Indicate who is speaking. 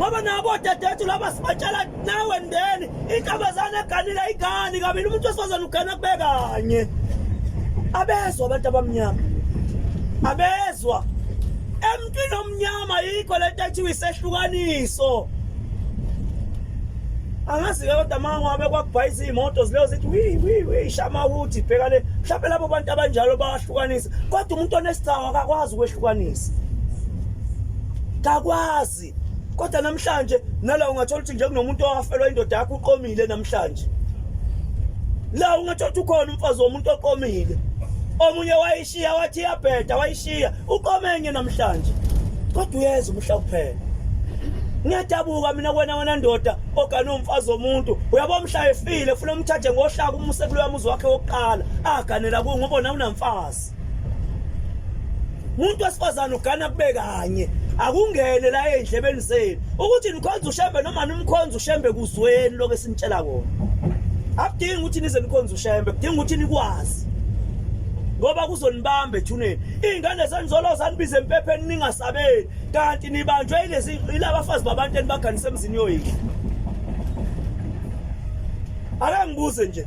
Speaker 1: ngoba nabo dadethu laba sibatshela nawe ndeni intombazane eganile igani kabili umuntu wesifazane ugana kube kanye abezwa abantu abamnyama abezwa emntwini omnyama yikho le nto ethiwa isehlukaniso angazi-ke kodwa ma wabe kwakubhayisa iy'moto zileyo zithi wiwiwi shama ukuthi bheka le mhlawumpe labo bantu abanjalo bayahlukanisa kodwa umuntu onesithawu akakwazi ukwehlukanisa kakwazi kodwa namhlanje nala ungathola ukuthi nje kunomuntu owafelwa indoda yakho uqomile namhlanje la ungathola ukuthi ukhona umfazi womuntu oqomile omunye wayishiya wathi iyabheda wayishiya uqomenye namhlanje kodwa uyeza umhla kuphela ngiyadabuka mina kwena wena ndoda ogane umfazi womuntu uyabo mhla efile funa umthathe ngohlaka umuse kuloya muzi wakhe wokuqala aganela kuwo ngoba nawunamfazi umuntu wesifazane ugana kube kanye akungene la endlebeni zenu ukuthi nikhonza ushembe noma nimkhonza ushembe kuzweni lokho esinitshela kona akudingi ukuthi nize nikhonza ushembe kudinga ukuthi nikwazi ngoba kuzonibamba ethuneni iy'ngane zenizolo zanibiza empepheni ningasabeli kanti nibanjwe ilezi ilabafazi babantu enibaganise emzini yoyidla akangibuze nje